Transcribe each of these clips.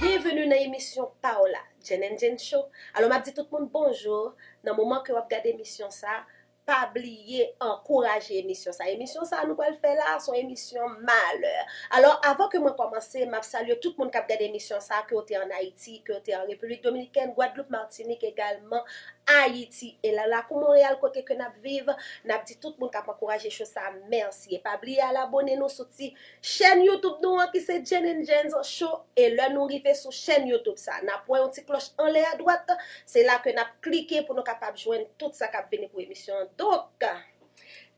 Bienvenue nan emisyon pa w la Djenn and Djenn Show Alò map di tout moun bonjour Nan moman ke wap gad emisyon sa Pa bliye ankouraje emisyon sa Emisyon sa nou pral fè la son emisyon malè Alò avan ke mwen kòmanse map salye tout moun kap gad emisyon sa ke w te an Ayiti ke w te an Repiblik Dominikèn Gwadloup Martinik egalman Ayiti e la lakou Monreyal kote ke nap viv Nap di tout moun kap ankouraje show sa mèsi e pa bliye al abone nou sou ti Chèn YouTube nou an ki se Jane and Jans Show e lè nou rive sou chèn YouTube sa, n'ap wè yon ti klòch anlè adwat, se la ke n'ap klike pou nou kapab jwenn tout sa k'ap vini pou emisyon an. Donk,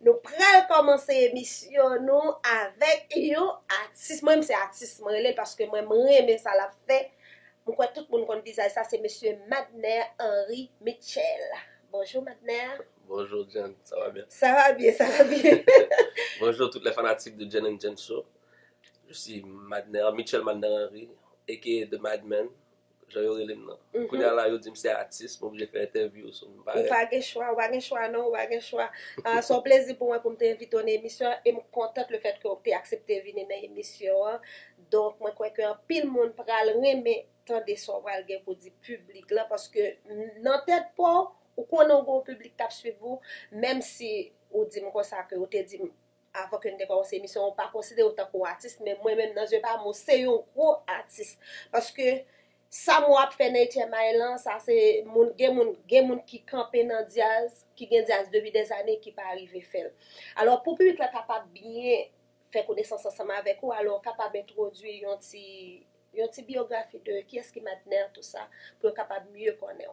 nou pral kòmanse emisyon nou avèk yon atis, mwen menm se atis mwen rele l paske mwen m renmen sa l'ap fè, m kwè tout moun konn vizaj sa, se mesye Madner Henri Mitchel. Bonjou Madner! Bonjour Jenn sa va byen? Sa va byen sa va byen. Bonjour tout les fanatiques de Jenn and Jenn show je suis Madner Mitchel Madner Henry aka the mad man jan yo relem nan kounya la yo dim se atis m oblije fè entèvyou sou m parèt. Ou pa gen chwa, ou pa gen chwa non, ou pa gen chwa. Se yon plezi pou mwen pou m te envite w nan emisyon an e m kontante le fèt ke w te aksepte vini nan emisyon an. Donk mwen kwè ke anpil moun pral renmen tande sa w pral gen pou di piblik lan paske nan tèt pa w Ou konnen ou gen yon piblik kap swiv ou, menm si ou dim konsa ke ou te dim avan ke nou te kòmanse emisyon an ou pa konsiderew tankou yon atis men mwen menm nan zye pam ou se yon gwo atis paske sa mwen ap fè nan 8 èm ane lan sa se moun gen moun gen moun ki kanpe nan dyaz ki gen dyaz depi dè zane ki pa rive fèl alò pou piblik la kapab byen fè konesans ansanm avèk ou alò ou kapab entwodui yon ti yon ti biyografi de kiyès ki Madner tou sa pou yo kapab mye konnenw.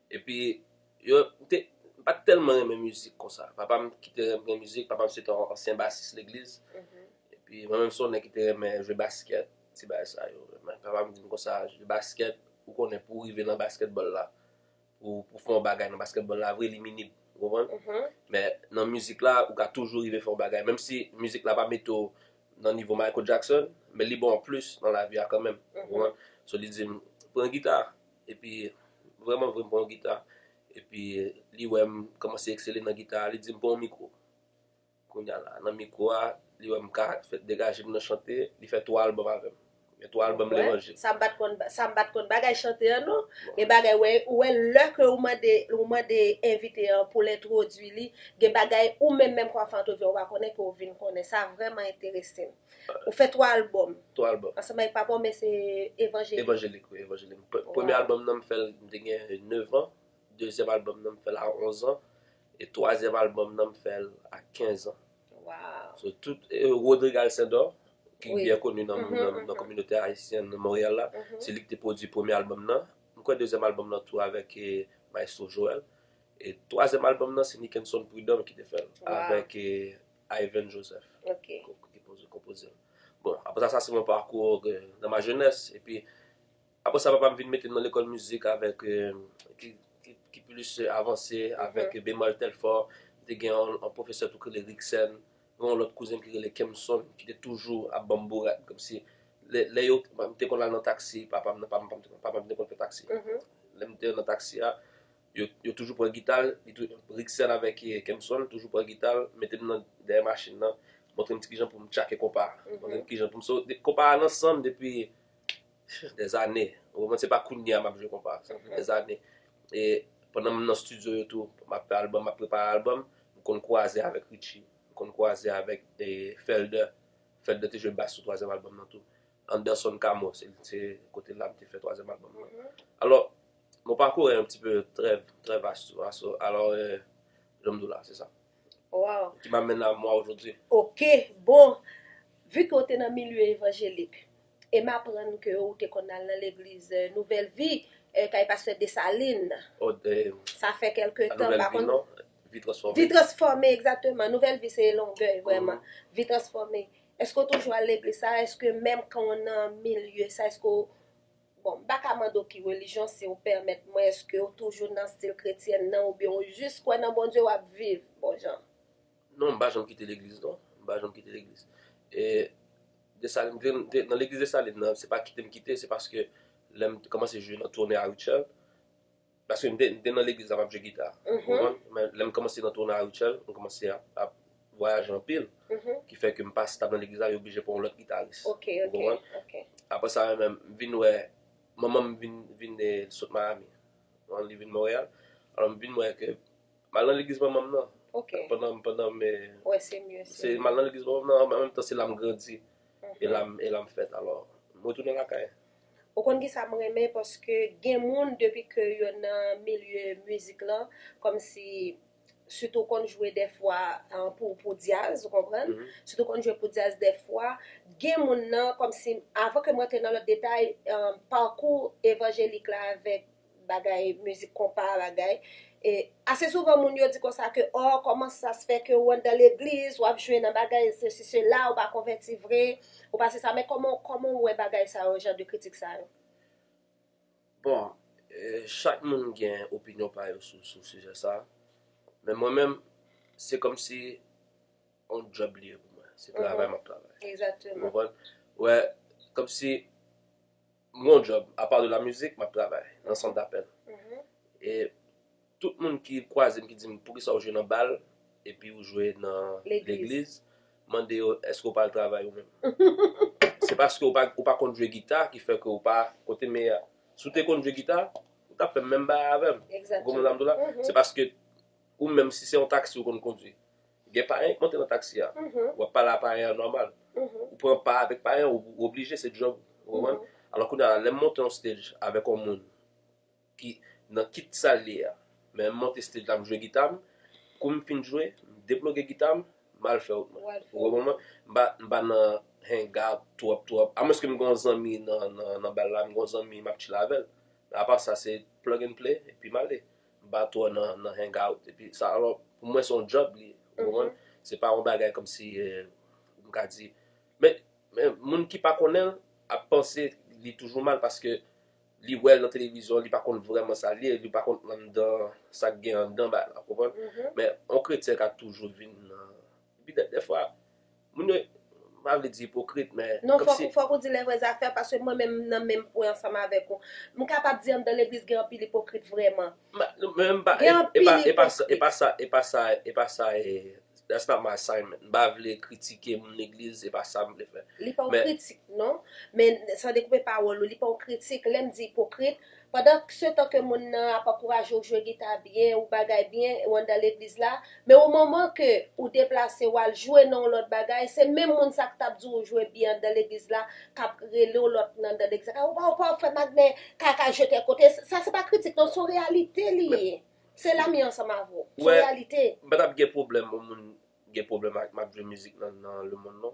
Epi yo m te m pat tèlman renmen mizik konsa. Papa m ki te renmen mizik, papa m se te yon ansyen basis legliz. Epi mwen menm se yon nèg ki te renmen jwe baskèt, ti bagay sa yo. Men papa m di m konsa, jwe baskèt, ou konnen pou w rive nan baskètbòl la, pou w fè yon bagay nan baskètbòl la vre li minib, ou konprann? Men nan mizik la ou ka toujou rive fè yon bagay. Menm si mizik la pa mete w nan nivo Michael Jackson, men li ba w plis nan lavi a kanmenm, ou konprann? So li di m, pran gita, Epi vrèman vre m pran yon gita epi li wè m kòmanse eksele nan gita a li di m pran yon mikwo. Kounya la nan mikwo a li wè m ka fè degaje m nan chante li fè 3 albòm avè m. Gen 3 albòm levanjil. Sa m pa t konn sa m pa t konn bagay chante an non. Gen bagay wè ou wè lè ke ou mande ou mande envite an pou l entwodui li gen bagay ou menm menm kòm Fanto di a ou pa konnen ke ou vin konnen. Sa vrèman enterese m. Ou fè 3 album. 3 album. Ansanm avèk papa w men se evanjelik. Evanjelik wi, evanjelik. Premye album nan m fè l m te gen 9 ans, dezyèm album nan m fè l a 11 ans e twazyèm album nan m fè l a 15 ans. Waww. So tout, Rodrigue Alcindor ki byen koni nan kominote ayisyen nan Montréal la, se li ki te pwodui premye album nan. M kwè dezyèm album nan tou avèk Maestro Joel e twazyèm album nan se Nickenson Prud'homme ki te fè l avèk Ivan Joseph ki konpoze l. Bon, apre sa, sa se yon pakou nan ma jenès. Epi, apre sa, papa m vin mete m nan lekòl mizik avèk, ki plis avanse, avèk Bemol Telfort. M te gen yon pwofesè tou ki rele Rixèn. Gen yon lòt kouzen ki rele Kemson ki te toujou ap ban m bourad. Kòmsi, lè yo, m te konn al nan taksi papa m nan, papa m te konn fè taksi. Lè m te nan taksi a. Yo toujou pran gita l, Rixel avèk Kempson toujou pran gita l, mete m nan dèyè machin nan, montre m ti kijan pou m tchake konpa a, montre m kijan pou m so, konpa a nan san m depi dèzane, ou konprann, se pa kounye a m ap jwe konpa, sa gen dèzane. E pandan m nan stidyo yo tou, m ap fè albòm, m ap prepare albòm, m konn kwaze avèk Richie, m konn kwaze avèk Felder, Felder te jwe bas sou twazyèm albòm nan tou. Anderson Camo se se kote la m te fè twazyèm albòm mwen. Alò, mon parcours est un petit peu très très vaste, tu vois. So, alors euh, jan m di w la, se sa. Wow. Ki m'amène à moi aujourd'hui. Ok, bon, vu ke w te nan milye evanjelik, e m aprann ke ou te konn al nan legliz Nouvèl Vi, kay pastè Desalin. Oh, de. Sa fè kèlke tan, m pa konn. Nouvèl Vi non, Vi Transfòme. Vi Transfòme, egzakteman. Nouvèl Vi se Longèy, vrèman. Vi Transfòme. Eske w toujou al legliz sa a? Eske menm kan w nan milye sa a, eske w, bon, m pa ka mande w ki relijyon, si w pèmèt mwen, eske w toujou nan stil kretyèn nan oubyen w jis kwè nan Bondye w ap viv bon jan? Non, m pa janm kite legliz non. M pa janm kite legliz. E, Desalin, nan legliz Desalin nan, se pa kite m kite, se paske lè m te kòmanse jwe nan Tonè a Rutshelle, Paske m te nan legliz la m ap jwe gita. Ou konprann? Men lè m kòmanse nan Tona Rutshelle, m kòmanse ap vwayaje anpil. Ki fè ke m pa stab nan legliz la, yo blije pran yon lòt gitaris. Ou konprann? Apre sa yo menm, m vin wè manman m vin sot Miami. Li vin Montréal. Alò m vin wè ke m al nan legliz manman m nan. Pandan, pandan m. Wè se mye si. Se m al nan legliz manman m nan, an menm tan se la m grandi. E la m fèt. Alò, m retounen lakay. Ou konn kisa m renmen paske gen moun depi ke yo nan milye mizik lan kòmsi sitou ou konn jwe dèfwa pou dyaz ou konprann sitou ou konn jwe pou dyaz dèfwa gen moun nan kòmsi avan ke m rantre nan lòt detay pakou evanjelik la avèk bagay mizik konpa bagay e ase souvan moun yo di konsa ke ò kòman sa se fè ke ou anndan legliz wap jwe nan bagay sesi sela ou pa konvèti vre ou pa se sa men kòman kòman ou wè bagay sa yo jan de kritik sa yo. Bon chak moun gen opinyon pa yo sou sou sijè sa men mwen menm se kòm si on djòb li ye pou mwen se travay map travay ou konprann ou wè kòm si M gen yon djòb, apa de la mizik, m ap travay nan sant dapèl. E tout moun ki kwaze m ki di m poukisa ou jwe nan bal epi ou jwe nan legliz, m mande yo èske ou pa al travay ou menm? Se paske ou pa konn jwe gita ki fè ke ou pa kote meyè a. Si w te konn jwe gita, ou t ap fè menm bagay avè m. Ou konprann sa m di w la? Se paske ou menm si se yon taksi ou konn kondwi. Gen payen ki monte nan taksi a, ou ap pale a payen an nòmal, ou pran pa avèk payen an, ou oblije, se djòb ou, ou konprann? Alò kounye a, lè m monte yon stage avèk yon moun ki nan kit sal li a, men m monte stage la m jwe gita m, kou m fin jwe, m deploge gita m, m al fè wout mwen. Ou konprann mwen? M pa nan hang out twòp twòp, amwenske m gen yon zanmi nan bal la, m gen yon zanmi m ap chile avè l, men apa sa se plug and play epi m ale. ba twò nan nan hangout epi sa alò pou mwen son job li ye ou konprann se pa yon bagay kòmsi m ka di men men moun ki pa konnen l ap panse li toujou mal paske li wè l nan televizyon li pa konn vrèman sa l ye li pa konn anndan sa k gen anndan bagay la ou konprann men yon kretyen ka toujou vin nan Epi dèfwa moun yo m pa vle di ipokrit men. Non fòk ou di lè vrè zafè paske mwen menm m nan menm pwen ansanm avèk ou. M kapab di anndan legliz gen anpil ipokrit vrèman. Gen anpil ipokrit. E pa sa e pa sa that's not my assignment. M pa vle kritike moun legliz e pa sa m vle fè. Li pa yon kritik non. Men san dekoupe pawòl ou li pa yon kritik. Lè m di ipokrit. Pandan se tan ke moun nan ap ankouraje w jwe gita byen ou bagay byen ou anndan legliz la, men o moman ke ou deplase ou al jwe nan yon lòt bagay, se menm moun sa k t ap di w jwe byen anndan legliz la k ap rele w lòt nan anndan legliz la k ap di w pa w fè magnen kaka jwe tèl kote, sa se pa kritik non se yon reyalite li ye, se la m ye ansanm avè w, se yon reyalite. Ou wè m pa t ap gen pwoblèm yon moun gen pwoblèm ak m ap jwe mizik nan lemonn non.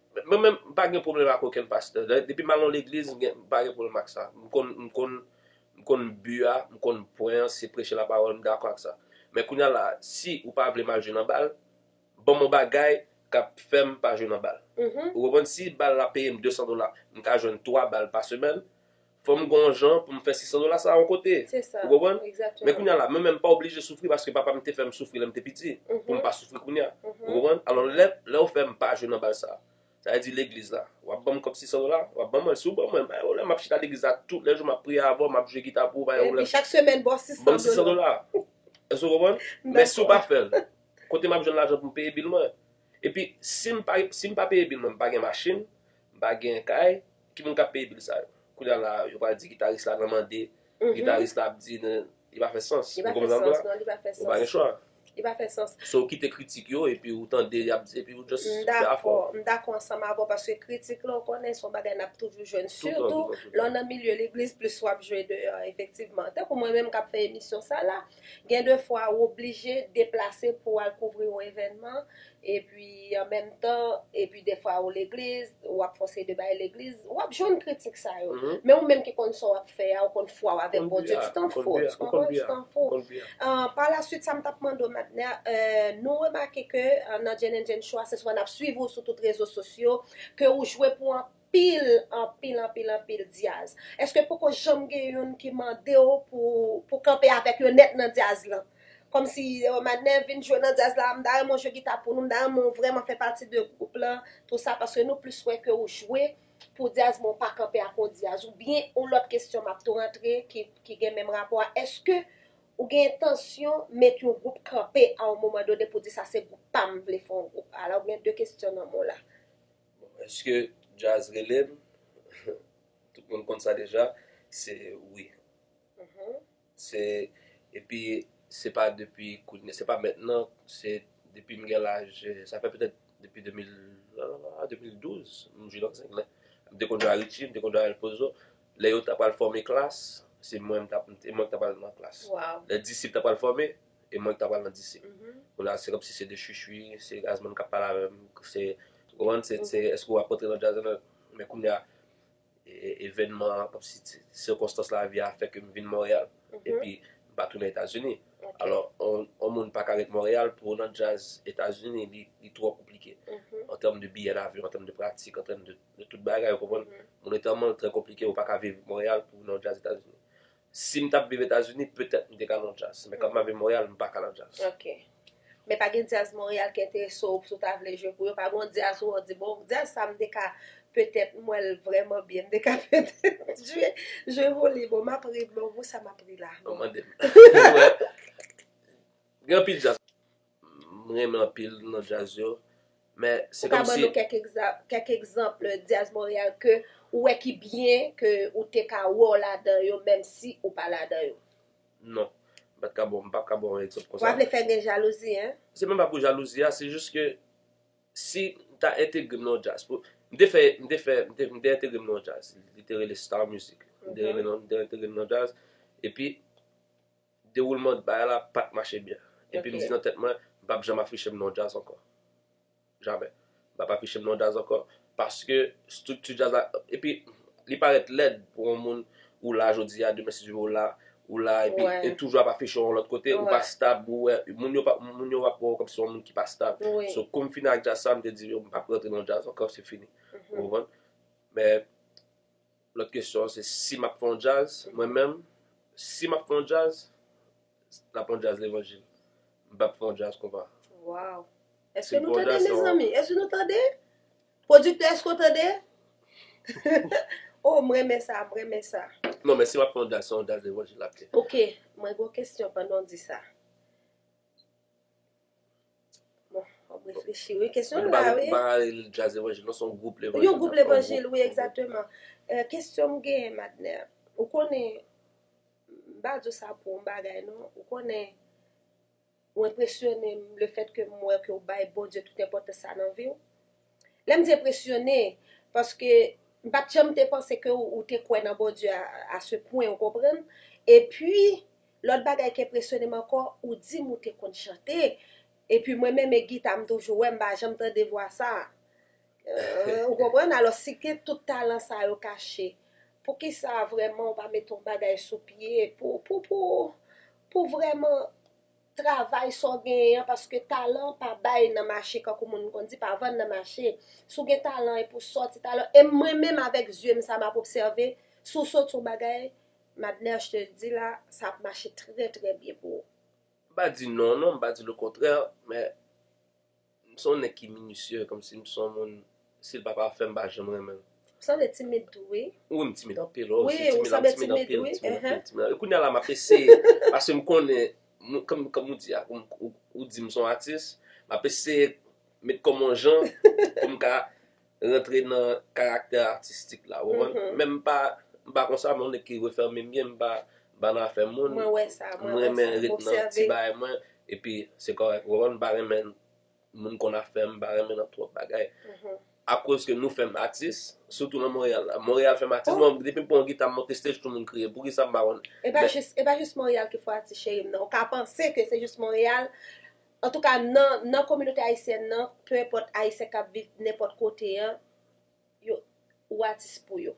Mwen menm m pa gen pwoblèm ak okenn pastè. Depi m al nan legliz m pa gen pwoblèm ak sa. M konn m konn m konn bi a, m konn pwen an se preche lapawòl m dakò ak sa. Men kounya la a si ou pa vle m al jwe nan bal, ban m yon bagay k ap fè m pa jwe nan bal. Ou konprann si bal la peye m 200 dola m ka jwenn 3 bal pa semèn, Fò m gen yon jan pou m fè 600 dola sa a yon kote. Ou konprann? Men kounye a la, mwen menm m pa oblije soufri paske papa m te fè m soufri lè m te piti pou m pa soufri kounye a. Ou konprann? Alò lè ou fè m pa jwe nan bal sa a, sa vle di legliz la, w ap ban m kòb 600 dola? W ap ban m l? Si w ban mwen l, pa gen pwoblèm. M ap chita legliz la tout lè jou, m ap priye avè w, m ap jwe gita pou ou, pa gen pwoblèm. Epi chak semèn ba w 600 dola. Ban m 600 dola. Èske ou konprann? Men si w pa fè l, kote m ap jwenn lajan pou m peye bil mwen? Epi si m pa peye bil mwen, m pa gen machin, m pa gen kay. Ki moun kap peye bil sa yo. Kounya la yo pral di gitaris la nan mande gitaris la ap di nou li pa fè sans ou konprann sa m di la li pa fè sans ou pa gen chwa li pa fè sans se ou kite kritik yo epi ou tande yap di epi ou just fè afè w m dakò m dakò ansanm avè w paske kritik la ou konnen son bagay nap toujou jwenn sitou lè w nan milye legliz plis wap jwe deyò efektivman tankou mwen menm kap fè emisyon sa la gen de fwa ou oblije deplase pou al kouvri yon evènman Epi an menm tan, epi defwa ou legliz, ou ap fon seri de bagay legliz, ou ap jwenn kritik sa yo. Men ou menm ki konn sa w ap fè a, ou konn fwa w avèk Bondye, ti tan fou, ti tan fou, ti tan fou. Pa la swit sa m t ap mande w Madner, nou remake ke nan Jane and Jane Show a, se swa n ap swiv ou sou tout rezo sosyo, ke ou jwe pou anpil. Anpil anpil anpil anpil dyaz. Eske poko janm gen youn ki mandew pou pou kanpe avèk yo nèt nan dyaz lan? Kòmsi oh madnè vin jwe nan dyaz la m ta renmen w jwe gita pou nou m ta renmen w vrèman fè pati de gwoup lan tou sa paske nou plis wè ke ou jwe pou dyaz men w pa kanpe ak yon dyaz ou byen yon lòt kesyon map tou rantre ki ki gen menm rapò a eske ou gen entansyon met yon gwoup kanpe a yon moman done pou di sa se gwoup pam m vle fè yon gwoup ala ou gen de kesyon nan men w la. Bon eske djaz relem tout moun konn sa deja se wi se epi se pa depi kounye se pa mentnan se depim gen laj sa fè petèt depi 2012 m jwenn ansanm men m te konn jwe a Ritchi m te konn jwe a El Pozo lè yo ta pral fòme klas se mwen m tap se mwen ki tap al nan klas lè disip ta pral fòme. e mwen ki ta pral nan disip kounye a se kòm si se de chwi chwi se Gazzman kap pale avèm se ou konprann se se èske wap rantre nan djaz la men kounye a evènman an kòm si ti sikonstans lavi a fè kem vin Montréal epi m pa tounen etazini alò on moun paka ret Montréal pou ou nan djaz etazini li twò konplike an tèm de biyè lavyon an tèm de pratik an tèm de tout bagay ou konprann moun etan mònn trè konplike ou paka viv Montréal pou ou nan djaz etazini Si m t ap viv Etazini, petèt m te ka nan djaz. Men kòm m ap viv Monreyal, m pa ka nan djaz. Ok. Men pa gen djaz Monreyal ki enterese w, si w ta vle jwe pou yo? Pa gen yon djaz ou wè w di, bon, djaz sa a m te ka, petèt m wè l vrèman byen, m te ka petèt jwe, jwe pou li. Bon, m ap ri, men pou sa m ap ri la? Ou mande m. Gen anpil djaz. M renmen anpil non djaz yo. Men se kòm si. Ou ka ban nou kèk egzanp, kèk egzanp djaz Montréal ke ou wè ki byen ke ou te ka wè w ladan yo menm si ou pa ladan yo? Non. M pa t ka bon, m pap ka ba w yon egzanp konsa. Wa vle fè gen jalouzi hein? Se menm pa pou jalouzi a, se jis ke si m ta entegre m nan yon djaz pou, m te fè, m te fè, m te, m te entegre m nan yon djaz li te rele Star Music. M te rele nan, m te entegre m nan yon djaz epi. Dewoulman bagay la pa t mache byen. Epi m di nan tèt mwen, m p ap janm afiche m nan yon djaz ankò. Jamè. M p ap afiche m nan yon djaz ankò. Paske estrikti djaz la. Epi, li parèt lèd pou yon moun ou la jodi a, demen si Dye vle ou la, ou la epi ou toujou ap afiche w yon lòt kote, ou pa stab, ou wè. Moun yo va ap wè w kòmsi w yon moun ki pa stab. So, kou m fini ak djaz sa a, m te di yo m p ap rantre nan yon djaz ankò, se fini. Ou konprann? Men, Lòt kesyon an se si m ap fè yon djaz mwen menm, si m ap fè yon djaz, l ap yon djaz levanjil. M pa p fè yon djaz konpa. Waww! Èske nou tande mezanmi? Èske nou tande? Pwodiktè èske w tande? Oh m renmen sa, m renmen sa. Non men si m ap fè yon djaz se yon djaz levanjil l ap ye. Ok, mwen gen yon kesyon pandan w di sa. Wap reflechi wi kesyon an la wi. Mwen pa rele li jazz levanjil non se yon gwoup levanjil. Yon gwoup levanjil wi egzakteman. Kesyon m genyen Madner, ou konnen m pa di w sa pou yon bagay non, ou konnen ou enpresyone m lefètke m wè ke w bay Bondye tout enpòtans sa nan vi w? Lè m di enpresyone, paske m pa t janm te panse ke ou te kwè nan Bondye a se pwen, ou konprann? Epi, lòt bagay ki enpresyone m ankò, ou di m ou te konn chante, epi mwen menm e gita m toujou wè m pa janm tande vwa sa a. Ou konprann? Alò, si gen tout talan sa yo kache, poukisa vrèman ou pa mete yon bagay sou pye pou vrèman. Travay sa w genyen an paske talan pa bay nan mache kankou moun konn di pa vann nan mache. Si w gen talan e pou w sòti talan e mwen menm avèk zye m sa m ap obsève si w sòti yon bagay Madner je te dis la sa ap mache trè trè byen pou ou. M pa di non non, m pa di lokontrè men. M son nèg ki minitieux komsi m son moun si l pa pafè m pa janm renmen l. Ou sanble timid tou wi. Wi m timid anpil wi wi ou sanble timid wi ehe. Kounya la map eseye paske m konnen kòm ou di a ou di m son atis map eseye met kòm on jan pou m ka rantre nan karaktè atistik la ou konprann men m pa m pa konsa m on nèg ki refème byen m pa ba nan afè moun m renmen ret nan ti bagay mwen epi se kòrèk ou konprann m pa renmen moun konn afè m m pa renmen nan twòp bagay akoz ke nou fèm atis sitou nan Montréal la Montréal fèm atis mwen depi m pran yon gita m monte stage tout moun kriye poukisa m pa konn e pa jis Montréal ki fè w atis cheri m nan ou ka panse ke se jis Montréal Antouka nan nan kominote ayisyèn nan, peu enpòt ayisyen kap viv nenpòt kote an, yo ou atis pou yo.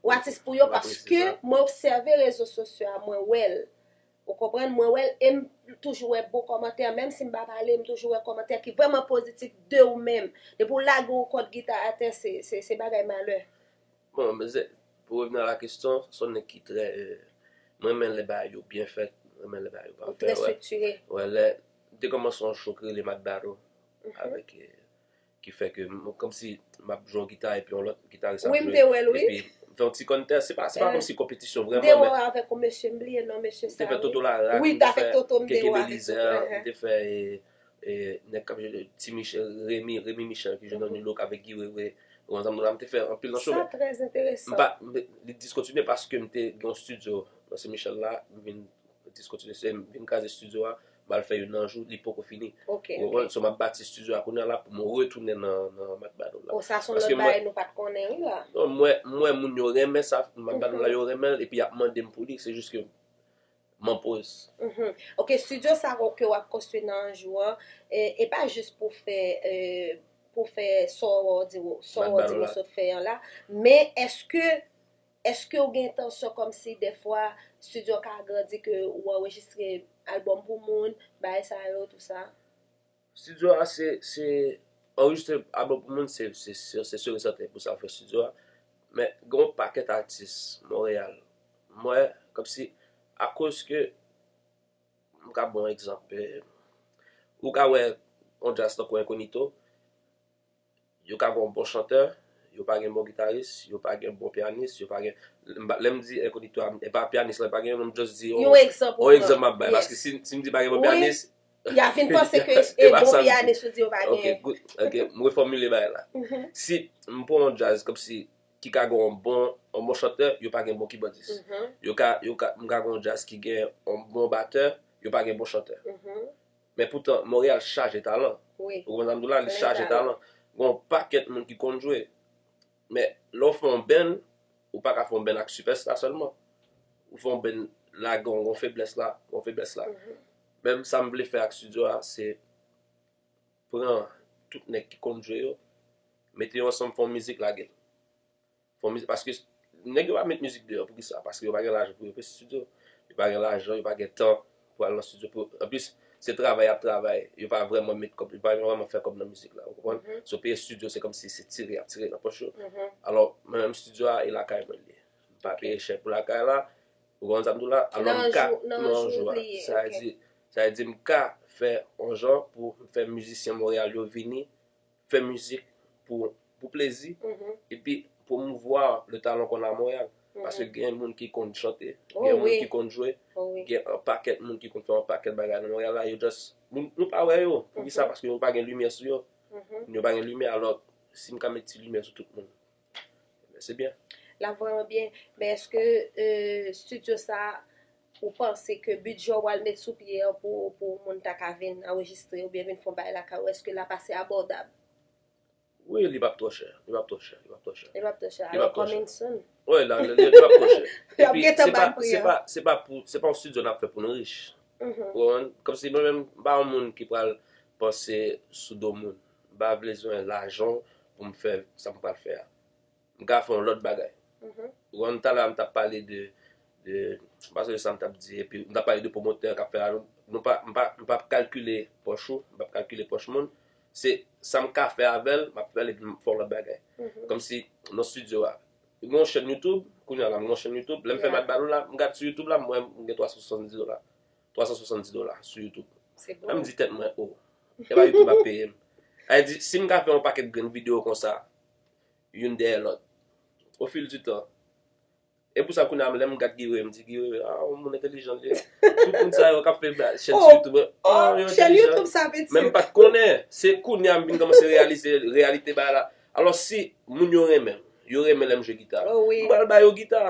Ou atis pou yo paske mwen obsève rezo sosyo a mwen wèl. Ou konprann, mwen wèl em toujou wè bon kòmantè menm si m pa pale m toujou wè kòmantè ki vrèman pozitif de ou menm. Depi ou lage yon kòd gita atè se se bagay malè. Bon mnzè pou revni a la kesyon son nèg ki trè m renmen lè bagay yo byen fèt m renmen lè bagay yo pafè trè striktire wè lè de kòman son cho ki rele mak baro avèk ki fè ke kòmsi map jwe yon gita epi yon lòt gitaris ap jwe epi m fè yon ti kòmntè se pa kòmsi konpetisyon vrèman men m te wè w avèk yon mesye m bliye non mesye sa wi m te fè toto larak m te fè keke belizè m te fè Nèg kap jwe ti michel remi remi michel ki jwe nan nu look avèk guy wewe ou ansanm la mte fè anpil nan chomè sa trè enteresan mpa li diskontinye paske mte gen yon studio nan se michel la mvin diskontinye se mvin kraze studio a mal fè youn nan jou li poko fini ok ok ou konprann so map bati studio a kounya la poum retounen nan mak badol la o sa son lòt bagay nou pat konnen wi la non mwen mwen moun yo renmen sa mak badol la yo renmenl epi yap mandem pouli se jis ke M'en poz. Ok studio sa ke wap konstwi nan anjou an e pa jis pou fè pou fè sa w di sa w di w sot fè an la men eske eske w gen entansyon kòmsi dèfwa studio an ka agrandi ke w anrejistre album pou moun bagay sa yo tout sa. Studio a se se anrejistre album pou moun se se sur et certain pou sa fè studio a men gen yon pakèt atis Montréal m wè kòmsi a koz ke m ka ba w egzanp ou ka wè yon jazz tankou Incognito Yo ka gen yon bon chantè, yo pa gen bon gitaris, yo pa gen bon pyanis, yo pa gen, lè m di enkonito a, e pa pyanis lan, pa gen yon m just di yon, Yon egzanp ou pran, yes. Yon egzanp m ap bay, paske si m di pa gen bon pyanis, Wi, y ap vin panse ke e bon pyanis ou di yo pa gen. Ok, good, ok, m refòmile bagay la. Si m pran yon djaz kòmsi ki ka gen yon bon, yon bon chantè, yo pa gen bon kibòdis. Yo ka, yo ka, m ka gen yon djaz ki gen yon bon batè, yo pa gen bon chantè. Men poutan Montréal chaje talan. Wi. Ou konprann sa m di w la? Li chaje talan. Gen yon pakèt moun ki konn jwe. Men, lè w fè yon benn, ou pa ka fè yon benn ak sipèsta sèlman. Ou fè yon benn la gen yon feblès la, yon feblès la. Menm sa m vle fè ak stidyo a, se pran tout nèg ki konn jwe yo, mete yo ansanm fè yon mizik lage l. Fò mizik paske nèg yo pa met mizik deyò poukisa paske yo pa gen lajan pou yo peye studio yo pa gen lajan yo pa gen tan pou al nan studio pou anplis se travay yap travay yo pa vrèman met kòb yo pa vrèman fè kòb nan mizik la ou konprann so peye studio se kòmsi se tire yap tire nan pòch yo alò mwen menm studio a e lakay mwen li ye m pa peye chè pou lakay la ou konprann sa m di w la alò m ka nan yon jou a sa vle di sa vle di m ka fè yon jan pou m fè mizisyen Montréal yo vini fè mizik pou plezi epi pwomouvwa le talon kon a Montréal paske gen moun ki konn chante, gen moun ki konn jwe, gen an pakèt moun ki konn fè an pakèt bagay nan Montréal la yo just nou pa wè yo poukisa paske yo pa gen limyè sou yo, yo pa gen limyè alò si m ka met ti limyè sou tout moun. Ebyen se byen. Lap vreman byen, men eske studio sa ou panse ke bidjè ou pral met sou pye an pou moun ta ka vin anrejistre oubyen vin fon bagay lakay ou eske lap ase abòdab? Wi li pap twò chè, li pap twò chè, li pap twò chè. Li pap twò chè, alò coming soon. Wi la, li pap twò chè. Yap gentan bay pri an. Epi se pa pou, se pa yon studio nap fè pou nou rich. Ou konprann? Kòmsi mwen menm m pa yon moun ki pral panse sou do moun. M pa blezwen lajan w pou m fè sa m pral fè a. M ka fè yon lòt bagay. Ou konprann? Talè a m t ap pale de, de, m pa sonje sa m t ap di epi, m t ap pale de pwomotè a k ap fè ralonj. Nou pa, m pa, m pa p kalkile pòch ou, m pa p kalkile pòch moun. Se sa m ka fè avè l, m ap fè l epi m fè yon lòt bagay. Kòmsi nan stidyo a. M gen yon chèn Youtube, kounye a la m gen yon chèn Youtube, lè m fè m al Badoo la, m gad sou Youtube la m wè m gen 370 dola. 370 dola sou youtube Epi m di tèt mwen oh Epa youtube ap peye m Epi m di si m ka fè yon pakèt grenn video konsa Youn dèyè lòt O fil di tan E pou sa kounye a lè m gad Guy-Wewe m di Guy-Wewe a yon moun entelijan li ye Tout moun sa yo k ap fè chèn sou youtube yo entelijan Menm m pa t konnen Se kounye a m vin kòmanse reyalize reyalite bagay la Alò si moun yo renmen m, yo renmen lè m jwe gita, m pral ba yo gita.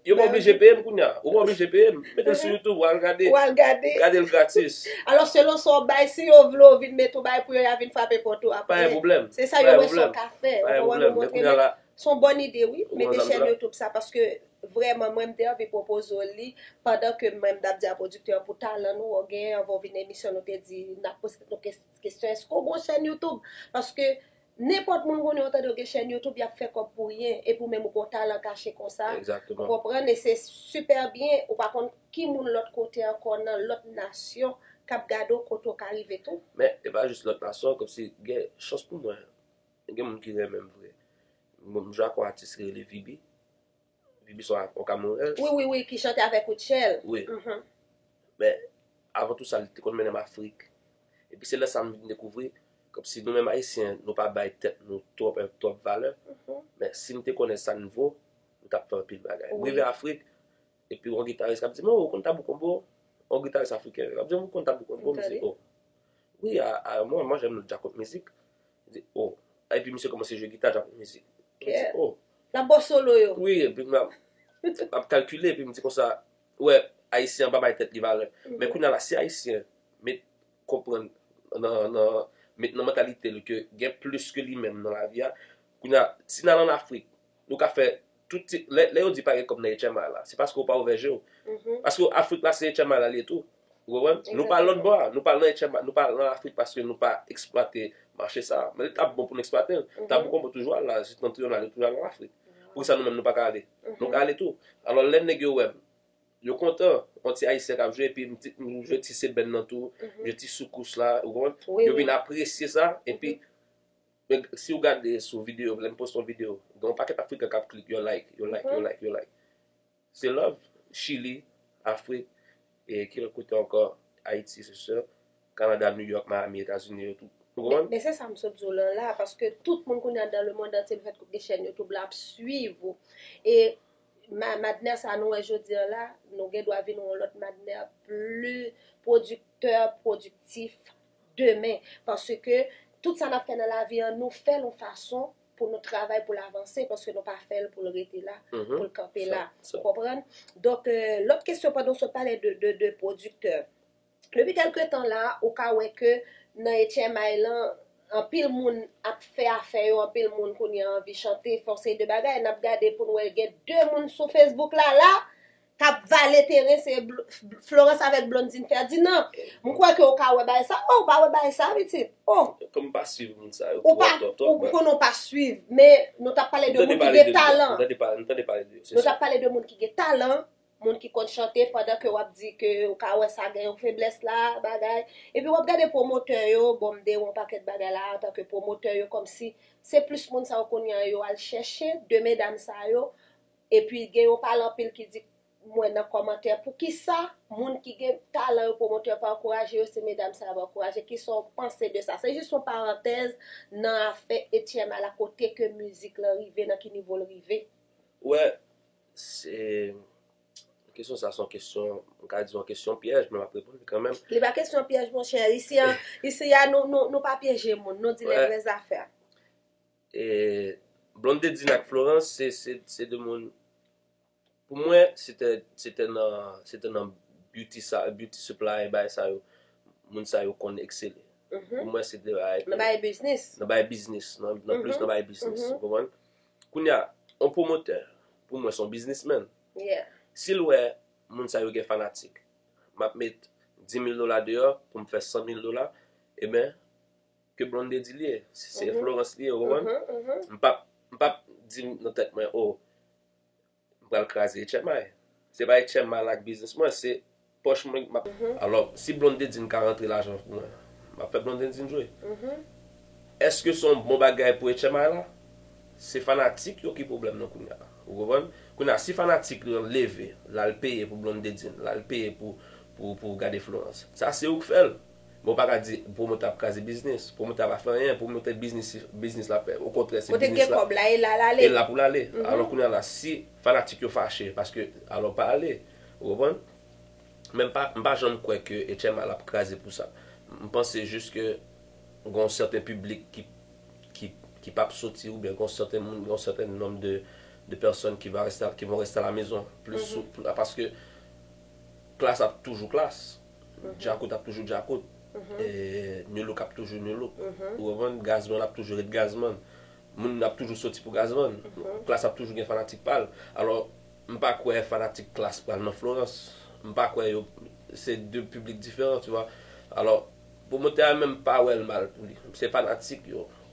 Yo pa oblije peye m kounya. Ou pa oblije peye m. Mete l sou youtube ou al gade. Gade l gratis. Alò selon sa w bay, si yo vle w vin met ou bay pou yo, y a vin frape pòt ou aprè. Pa gen pwoblèm. Se sa yo wè sa w ka fè. Pa gen pwoblèm. Men kounya la. Se yon bòn ide wi, mete chèn youtube sa paske vrèman mwen m te anvi pwopoze w li pandan ke mwen m t ap di a pwodiktè an pou talan nou wè w genyen anvan w vin nan emisyon nou te di n ap poze nou kesyon. Kesyon eske w gon chèn YouTube? Paske nenpòt moun konnen yo tande yo gen chèn YouTube yap fè kòb pou ryen epi ou menm ou gon talan kache konsa ou konprann e se super byen ou pa konn ki moun lòt kote ankò nan lòt nasyon kap gade w kote w ka rive tou. Men e pa jis lòt nasyon kòmsi gen chans pou mwen gen moun ki renmen m vre m jwe ak yon atis ki rele Viby Bibi son ak Okap nou rèl. Wi wi wi ki chante avèk Rutshelle. Wi. Men avan tou sa li te konn mennen m Afrik. Epi se lè sa m vin dekouvri kòmsi nou menm Ayisyen nou pa bay tèt nou twòp enp twòp valè. Men si m te konnen sa n vo, m t ap fè anpil bagay. M rive Afrik, epi yon gitaris k ap di m, o ou konn tabou konbo? Yon gitaris afriken k ap di m, ou konn tabou konbo? M di o. Wi a mwen, mwen jèn nou dja konn mizik. Li di oh Epi misye kòmanse jwe gita tankou mizik Mwen di oh Lap baw solo yo Wi epi map kalkile epi m di konsa Ou wè ayisyen an pa bay tèt li valè Men kounya la si ayisyen met konprann nan met nan mantalite l ke gen plis ke li menm nan lavi a Kounya si n al an Afrik nou ka fè Tout ti, lè, lè yo di pa gen kòb nan HMI la, se paske ou pa ouvè je ou. Paske Afrik la se HMI la li ye tou. Ou konprann? Nou pa lòt bò a. Nou pa nan HMI, nou pa nan Afrik paske nou pa eksplwate mache sa a. Men li ta bon pou nou eksplwate l. Ta bon pou konprann toujou al la, septentrional yo toujou al an Afrik. Poukisa nou menm nou pa ka ale? Nou ka ale tou. Alò lè nèg yo wè m, yo kontan. On ti Ayisyen k ap jwe epi m ti, m jwe ti seben nan tou, m jwe ti soukous la, ou konprann? Yo vin apresye sa epi Men siw gade sou video m lèm poste yon video gen yon pakèt afrikan kap klik yo like yo like yo like yo like se love chili afrik e ki lòt kote ankò ayiti se sè kanada new york miami etazini yo tout ou konprann. Men se sam sot di w lan la paske tout moun kounye a dan le mond antye lefèt ke w gen chèn youtube la ap swiv ou e madnè sa nou wè jodi an la nou gen dwa vin yon lòt madnè pli pwodiktè pwodiktif demen paske tout sa nap fè nan lavi an nou fèl yon fason pou nou travay poul avanse paske nou pa fèl poul rete la poul kanpe la ou konprann donk lòt kesyon pandan nou sot pale de pwodiktè depi kèlke tan la ou ka wè ke nan etchèmay lan anpil moun ap fè afè yo anpil moun kounye an anvi chante fè yon seri de bagay nap gade poun wè gen de moun sou fesbouk la la Kap vale teren se Florence avèk Blondine Ferdinand. M kwè ke ou ka wè bagay sa. Oh, ou pa wè bagay sa pitit? Oh. Kòm m pa swiv moun sa yo twòp twòp twòp. Ou pa, ou konnen ou pa swiv. Men, nou tap pale de moun ki gen talan. M tande pale de yo, m tande pale de yo. Nou tap pale de moun ki gen talan, moun ki konn chante pandan ke wap di ke ou ka wè sa gen yon feblès la, bagay. Epi wap gade pwomotè yo, bon m dewe yon pakèt bagay la antan ke pwomotè yo kòmsi se plis moun sa yo kounye an yo al chèche de medam sa yo. Epi gen yon pale anpil ki di m wè nan kòmantè poukisa moun ki gen talan yo pwomotè yo pa ankouraje yo se medam sa yo ap ankouraje kisa w panse de sa se jis yon parantèz nan afè Etienne ala kote ke mizik lan rive nan ki nivo l rive. Ou wè se kesyon sa se yon kesyon m ka di yon kesyon pyèj men m ap reponn li kanmenm. Li pa kesyon pyèj monchè isi a nou pa pyeje moun nou di lè vrè zafè. Blondedine ak Florence se 2 moun pou mwen se te nan se te nan beauty sa beauty supply bagay sa yo moun sa yo konn eksele pou mwen se te bagay nan bagay biznis nan bagay biznis nan plis nan bagay biznis ou konprann kounye a yon pwomotè pou mwen se yon biznis menn si l wè moun sa yo gen fanatik m ap met dimil dola deyò pou m fè sanmil dola eben Ke Blondedy li ye, se Florence li ye ou konprann? M pap, m pap di nan tèt mwen oh m pral kraze Etchèman. Se pa Etchèman la k biznis mwen, se pòch mwen k map. Alò, si Blondedy ka rantre lajan pou mwen, m ap fè Blondedy jwe. Eske se yon bon bagay pou Etchèman la? Se fanatik yo ki pwoblèm nan kounye a. Ou konprann? Kounye a, si fanatik yo leve, l al peye pou Blondedy, l al peye pou pou pou gade Florence, sa se ou k fè l. Men w pa ka di pwomotè ap kraze biznis. Pwomotè a pa fè anyen. Pwomotè biznis se biznis l ap fè. Okontrè se biznis la. Kote k gen kòb la e la l ale. E la pou l ale. Alò kounye a la si fanatik yo fache paske alò pa ale. Ou konprann? Men m pa janm kwè ke HMA l ap kraze pou sa. M panse jis ke gen yon sèten piblik ki ki p ap soti oubyen gen yon sèten moun gen yon sèten nonm de de pèsòn ki va reste ki von reste a la mezon plis paske klas ap toujou klas. Djakout ap toujou djakout, new look ap toujou new look, ou konprann, gazzman ap toujou ret gazzman, moun ap toujou soti pou gazzman, klass ap toujou gen fanatik pa l, alò m pa kwè fanatik klass pral nan florans, m pa kwè yo, se 2 piblik diferan tu vwa, alò pwomotè a menm m pa wè l mal pou li, se fanatik yo.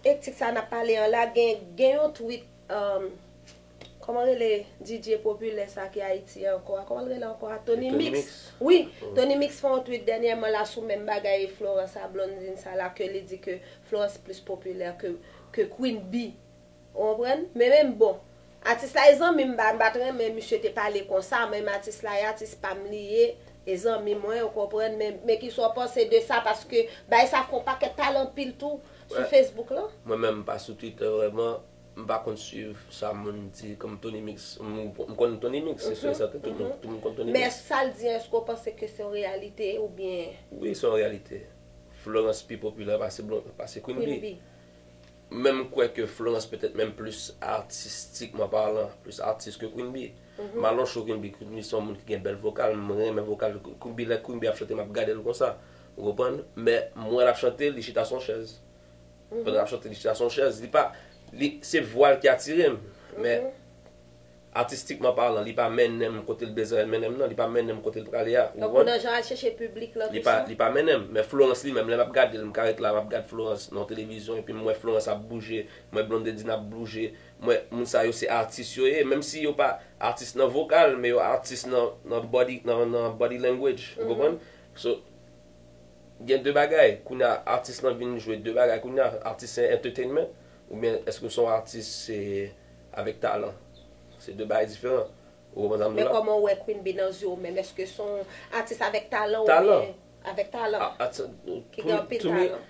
Etik sa nap pale an la gen gen yon tweet um kòman rele DJ popilè sa ki ayiti ankò a kòman l rele ankò a Tony mix wi Tony mix fè yon tweet dènyèman la sou menm bagay Florence a Blondine sa la ke li di ke Florence plis popilè ke ke Queen Bee ou konprann men menm bon atis la e zanmi m m pat renmen misye te pale konsa menm atis la e atis pa m li ye e zanmi mwen ou konprann men men kisa w panse de sa paske bagay sa fè yon pakèt pale anpil tou. sou Facebook lan? Mwen menm m pa sou Twitter vrèman, m pa konn swiv sa moun di kòm Tony Mix. M konn Tony Mix, se sûr et certain, tout moun konn Tony Mix. Men sa l di an èske w panse ke se yon reyalite oubyen? Wi se yon reyalite. Florence pi popilè pase Queen Bee. Men m kwè ke Florence petèt menm plis atistikman palan, plis atis ke Queen Bee. M alò cho Queen Bee, Queen Bee se yon moun ki gen bèl vokal, m renmen vokal Queen Bee. Lè Queen Bee ap chante m ap gade l konsa. Ou konprann? Men, m wè l ap chante, li chita sou yon chèz. Pandan l ap chante, li chita sou yon chèz. Li pa, li, se vwa l ki atire m. Men, atistikman palan, li pa mennen m kote l bezwen l mennen m nan. Li pa mennen m kote l prale a. Ou konprann? Donk, ou nan jan al chèche piblik lan tou sa? Li pa mennen m. Men Florence li menm, lè m ap gade l, m ka ret la, m ap gade Florence nan yon televizyon, epi m wè Florence ap bouje, m wè Blondedine ap blouje, m wè, moun sa yo se atis yo ye, menm si yo pa atis nan vokal, men yo atis nan, nan body, nan, nan body language. Ou konprann? So gen 2 bagay kounya atis lan vin jwe 2 bagay kounya atis se entertainment oubyen eske son atis se avèk talan se 2 bagay diferan ou konprann sa m di la. Men kòman ou wè Queen Bee nan zye w menm eske son atis avèk talan oubyen avèk talan ki gen anpil talan.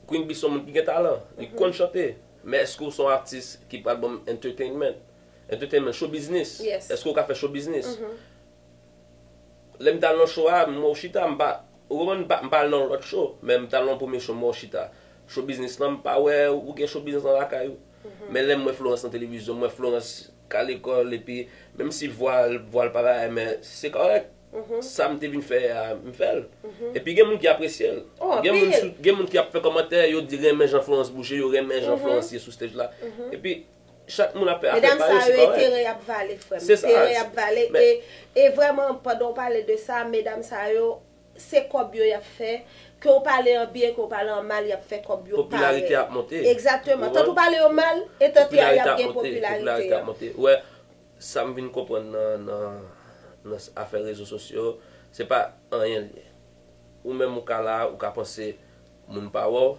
Queen Bee son moun ki gen talan li konn chante men eske ou son atis ki pral banm entertainment entertainment show biznis eske ou ka fè show biznis Lèm tal nan show a mwen chita m pa ou konprann m pa al nan yon lòt show men m tal nan yon premye show mwen chita show biznis lan m pa wè ou gen show biznis lan lakay ou men lèm wè Florence nan televizyon m wè Florence ka lekòl epi menm si vwa l vwa l pa pareil men se kòrèk sam te vin fè a m fèl epi gen moun ki apresye l gen moun gen moun ki ap fè kòmantè yo di renmen jan Florence bouge yo renmen jan Florence ye sou stage la epi Chak moun ap fè afè pa yo, se kòrèk. Medam sa yo e teren yap vale frèm. Se sa. Teren yap vale e e vrèman pandan ou pale de sa medam sa yo se kòb yo yap fè ke ou pale an byen ke ou pale an mal yap fè kòb yo parèt. Popilarite ap monte. Egzakteman. Tant ou pale yo mal e tant ya yap gen popilarite. Popilarite ap monte. Ou wè sa m vin konprann nan nan nan afè rezo sosyo se pa anyen l ye. Ou menm ou ka la ou ka panse moun pa wè w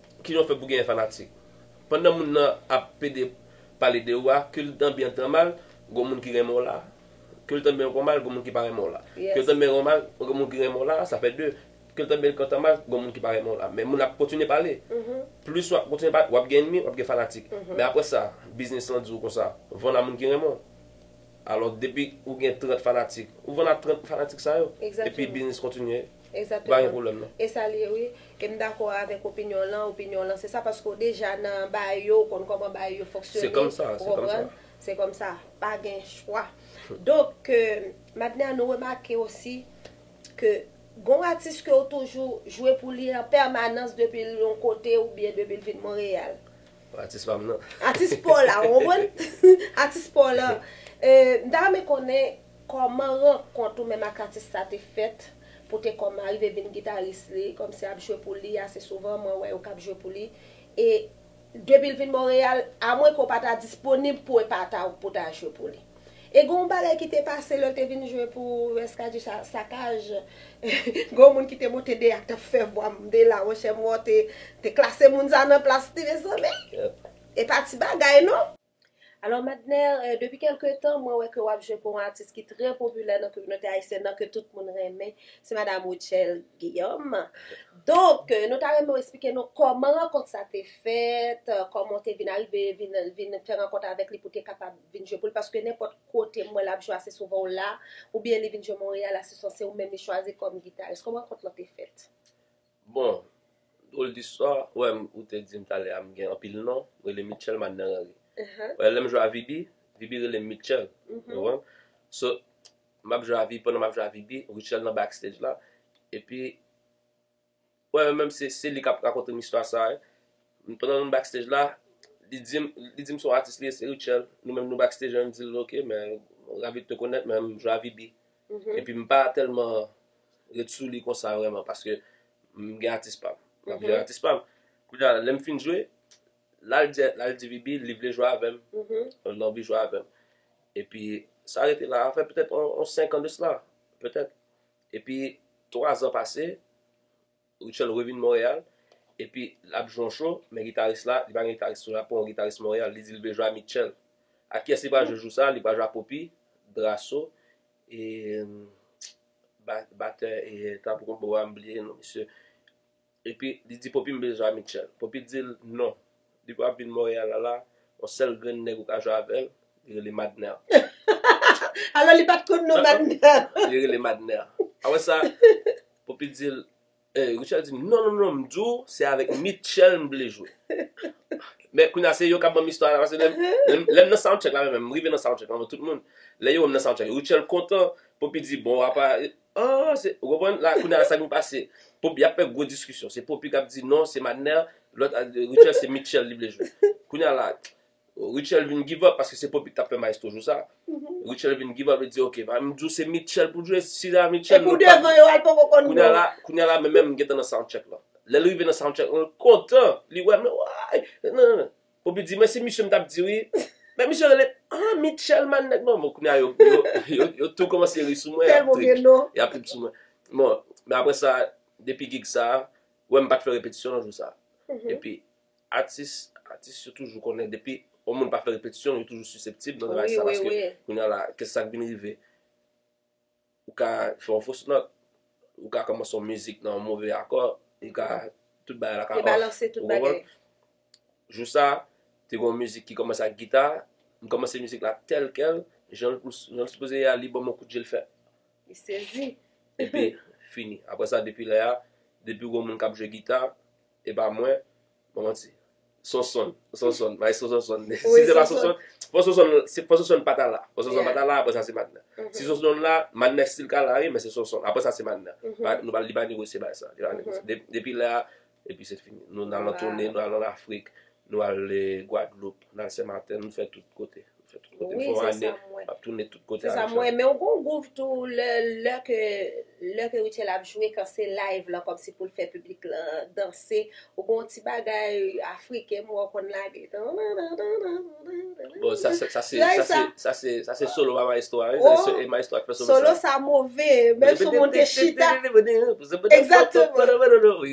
Kijan w fè pou genyen fanatik? Pandan moun nan ap pede pale de ou a, ke l tan byen tan mal, gon moun ki renmen w la. Ke l tan byen kon mal, gon moun ki pa renmen w la. Ke l tan byen kon mal, gon moun ki renmen w la, sa fè 2. Ke l tan byen kon tan mal, gon moun ki pa renmen w la. Men moun ap kontinye pale. Plis w ap kontinye pale, w ap gen ènmi, w ap gen fanatik. Men apre sa, biznis lan di w kon sa, vann a moun ki renmen w. Alò depi ou gen 30 fanatik, ou vann a 30 fanatik sa yo. Epi biznis kontinye. Exactement. E sa li ye wi. E m dakò avèk opinyon w lan, opinyon w lan se sa paske w deja nan baay yo, w konn kòman baay yo fonksyone. Se kòm sa, se kòm sa. Se kòm sa. Pa gen chwa. Donk ke Madne a nou remake osi ke gen yon atis ke w toujou jwe pou li an pèmanans depi l yon kote oubyen depi l vin Monreyal. Atis pam nan. Atis paw la ou konprann? Atis paw lan. M ta renmen konnen kòman rankont ou menm ak atis sa te fèt pou te kòm arive vin gitaris li, kòm se ap jwe pou li ase souvan mwen wè yo kap jwe pou li e depi l vin Monreyal amwenke w pa ta disponib pou epataw pou ta jwe pou li. E gen yon bagay ki te pase lè l te vin jwe pou Reskadji Sakaj, gen yon moun ki te monte deyè ak t ap fè vwa Mndela, monchè m wè w te klase moun sa nan plas li mezanmi, e pa ti bagay non. Alò Madner, depi kèlke tan mwen wè ke w ap jwe pou yon atis ki trè popilè nan kominote ayisyèn nan, ke tout moun renmen, se madam Rutshelle Guillaume. Donk, nou ta renmen w esplike nou kòman rankont sa te fèt, kòman w te vin arive vin fè rankont avèk li pou te kapab vin jwe poul paske nenpòt kotem wèl ap jwe ase souvan ou la oubyen li vin jwe Montréal ase souvan se ou menm li chwazi kòm gitaris kòman rankont lan te fèt? Bon dwol distwa wè m ou te dim talè a m gen anpil non m rele Mitchell Madner Henry wè lèm jwe a Vibi Vibi relem Mitchell ou konprann so map jwe a Vibi pandan map jwe a Vibi Rutshelle nan backstage la epi Wè mwen menm se se li kap rakonte m istwa sa wi pandan nou backstage la li di m li di m se yon atis li ye se Rutshelle nou menm nou backstage an m di l ok mwen ravi de te connaitre men m jwe a vy bi epi m pa tèlman ret sou li konsa vrèman paske m gen atis pa m m ap jwe ak atis pa m kounye a lè m fin jwe la l di la l di vy bi li vle jwe avè m l gen anvi jwe avè m epi sa rete la sa fè petèt yon 5 an de sla petèt Epi, twa zan pase, Rutshelle revin Montréal, epi l ap jwe yon show, men gitaris la, li pa gen gitaris tou, l ap pran yon gitaris Montréal, li di li vle jwe a Mitchell. Ak kiyès li pral jwe jou sa a? Li pral jwe a Poppy, Drasso, e batè e tanbou konba a, m bliye non misye. Epi li di Poppy m bezwen a Mitchell. Poppy di l non, depi w ap vin Montréal la la, yon sèl grenn nèg ou ka jwe avè l, li rele Madner. Alò li pa t konn non Madner. Li rele Madner. Apre sa, Poppy di l, eh, Richard di m, non, non, non, m di w se avèk Mitchell m vle jwe. Men kounye a se yo k ap ban m istwa la, paske lè m nan soundcheck la menm, m rive nan soundcheck la anvan tout moun, lè yo wè m nan soundcheck, Rutshelle kontan, Poppy di bon apa. An se ou konprann la kounye a sa ki pase pou yap fè gwo diskisyon se popi kap di non se madner lòt a Rutshelle se Mitchell li vle jwe kounye a la Rutshelle vin give up paske se popi ki tap fè maestro jou sa Rutshelle vin give up li di ok ba m di w se Mitchell pou jwe si se pa Mitchell nou pap kounye a la kounye a la menm menm m gentan nan soundcheck lan lè l rive nan soundcheck lan l kontan li wè m nan waayy nan nan nan Ou pi di mwen se misye m tap di wi. Nèg misye rele ah Mitchell man nèg non bon kounye a yo tou kòmanse ri sou mwen yap trip yap trip sou mwen bon men aprè sa depi gig sa wè m pat fè repetisyon nan jou sa epi atis atis yo toujou konnen depi yon moun pa fè repetisyon yo toujou siseptib nan bagay sa paske kounye a la ke sak vin rive. Ou ka fè yon fos nòt, ou ka kòmanse yon mizik nan yon move akò, ou ka, tout bagay la ka off. Debalanse tout bagay. Ou konprann? Jou sa, te gen yon mizik ki kòmanse ak gita, m kòmanse mizik la tèl kèl, jan l pou, jan l sipoze ye a, li ban m yon kout je l fè. Li sezi. Epi, fini. Aprè sa, depi lè a, depi ou wè yon moun k ap jwe gita, e pa mwen. Bon manti. Sonsonn. Sonsonn. Maestro Sonsonn. Si se pa Sonsonn. Fò Sonsonn. Fò Sonsonn pa ta la. Fò Sonsonn pa ta la. Apre sa se Madnè. Si Sonsonn la. Madnè still ka la wi. Men se Sonsonn. Apre sa se Madnè. Nou pa li pa negosye bagay sa. Depi lè a. Epi se fini. Nou nan lòt toune. Nou al an Afrik. Nou al Gwadloup. Nou al Senmatè. Nou fè tout kote. Wi, se sa m wè. Se sa m wè. Men w gen yon gouv tou lè ke lè ke Rutshelle ap jwe kan se live lan kòmsi pou l fè piblik lan danse ou gen yon ti bagay afriken m wè w konn lage Bon sa se sa se sa se sa se solo a maestro a e maestro a k fè solo sa Solo sa move menm si w moun te chita Exactement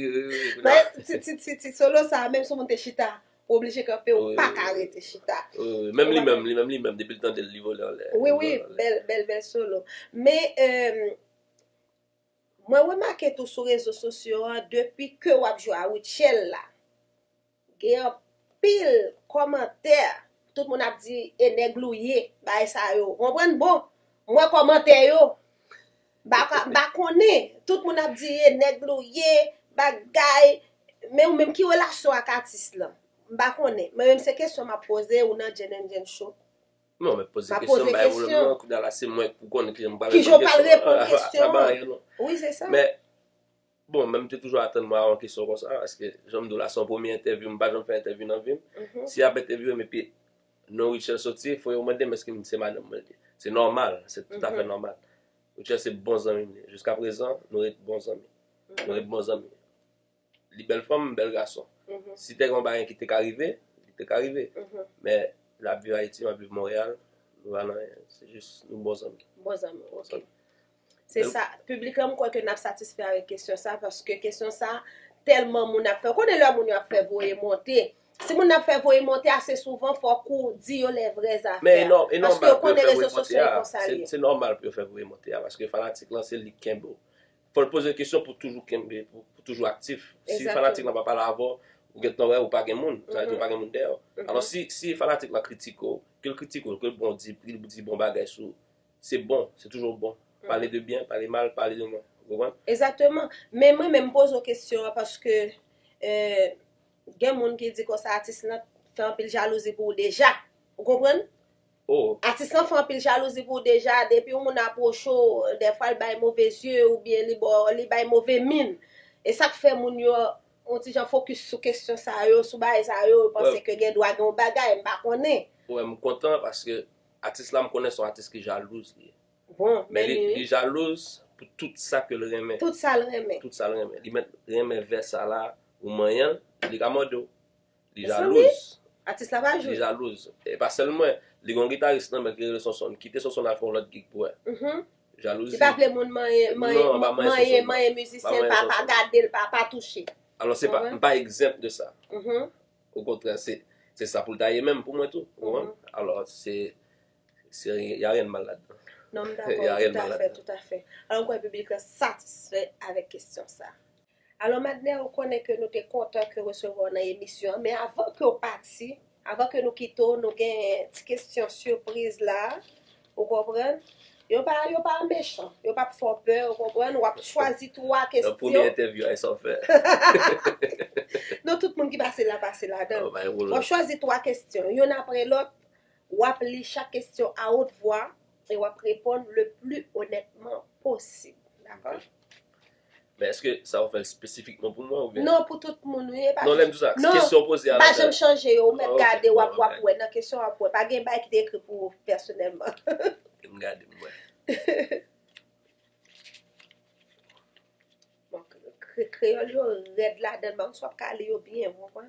Ti solo sa menm si w moun te chita Ou oblije kanpe ou paka rete chita. Wi wi menm li menm li menm li menm depi l tande l li vole anlè. Wi wi bèl bèl bèl solo men mwen remake tou sou rezo sosyo an depi ke wap jwe a Rutshelle la gen anpil kòmantè tout moun ap di e nèg l ou ye bagay sa yo ou konprann bon mwen kòmantè yo. Baka ba konnen, tout moun ap di e nèg lou ye, bagay, men ou menm ki relasyon w ak atis lan? M pa konnen, mwen menm se kesyon m ap poze ou nan JNNJN show. Non men poze kesyon m bay pwoblèm non, kounya la se mwen pou konnen kijan m pral reponn kesyon an. Kijan w pral reponn kesyon an. Sa pa anyen non. Wi se sa. Men. Bon, men m te toujou atann mwen a yon kesyon konsa, paske jan m di w la se yon premye entèvyou, m pa janm fè entèvyou nan vi m. Si y ap entèvyouwe m epi non Rutshelle soti, fò yo mande m èske m se madanm mwen li. Se nòmal, se toutafè nòmal. Rutshelle se bon zanmi m ye. Jiskaprezan, nou ret bon zanmi. Nou ret bon zanmi. Li bèl fanm, m bèl gason. Si te gen yon bagay ki te ka rive, li te ka rive. Men, l ap viv Ayiti, m ap viv Monreyal, nou pa nan anyen. Se jis nou bon zanmi. Bon zanmi, ok. Se sa, piblik la m kwè ke n ap satisfè avèk kesyon sa paske kesyon sa tèlman moun ap fè. Ou konnen lè moun yo ap fè voye monte, si moun nan ap fè voye monte ase souvan fòk ou di yo lè vrè zafè a. Paske ou konnen rezo sosyo yo konsa l ye. Se nòmal pou yo fè voye monte a paske fanatik lan se li k kenbe w. Fò l poze kesyon pou toujou kenbe, pou toujou aktif. Si fanatik lan pa pale avè w, ou gen tan wè ou pa gen moun. Sa vle di ou pa gen moun dèyè w. Alò si fanatik lan kritike w, ke l kritike w, ke l bon di, ke l di bon bagay sou ou, Se bon, se toujou bon. Pale de byen, pale mal, pale de mwen. Ou konprann? Exactement. Men mwen menm m poze w kesyon an paske gen moun ki di konsa atis lan fè anpil jalouzi pou w deja. Ou konprann? Oh. Atis lan fè anpil jalouzi pou w deja, depi yon moun apwoche w, dèfwa l bay move zye oubyen li ba w, li bay move min. E sa k fè moun yo yon ti jan fokis sou kesyon sa yo, sou bagay sa yo, yo panse ke gen dwa gen yon bagay, m pa konnen. Wè m kontan paske Atis la m konnen son atis ki jalouz li ye. Bon men li wi. Li jalouz pou tout sa ke l renmen. Tout sa l renmen. Tout sa l renmen. Li mèt renmen vè sa la, ou manyen l, li ka mòde w. Li jalouz. Mezanmi! Atis la pa jwe. Li jalouz. E pa sèl mwen. Li gen yon gitaris nan menl ki rele Sonsonn. Kite Sonsonn al fè yon lòt gig pou wè. Jalouzi. Li pa vle moun manyen, manyen, manyen, manyen mizisyen l, pa gade l, pa touche. Alò se pa, m pa egzanp de sa. Okontrè se se sa pou l ta ye menm pou mwen tou. Ou konprann? Alò se se y a ryen de mal ladan. Non m dakò, toutafè, toutafè. Alò m kwè piblik lan satisfè avèk kesyon sa a. Alò Madner, ou konnen ke nou te kontan ke resevwa w nan emisyon an, men avan ke w pati, avan ke nou kite w, nou gen ti kesyon sipriz la a. Ou konprann? Yo pa, yo pa mechan. Yo pa p fè w pè, ou konprann? W ap chwazi twa kesyon. Nan premye entèvyou a, e sa w fè? Non, tout moun ki pase la, pase ladan l. W ap chwazi twa kesyon, youn apre lòt. W ap li chak kesyon a wot vwa e w ap reponn le pli onètman posib. Dakò? Men eske sa ou fèl spesifikman pou mwen oubyen? Non pou tout moun wi epa Non lèm di sa non kesyon poze a la pa janm chanje yo ou mèt gade wap wap wè nan kesyon wap wè pa gen bagay ki te ekri pou ou pèsonèlman M gade m wè Bon kreyòl yo rèd ladann bagay sou wap ka li yo byen ou konprann.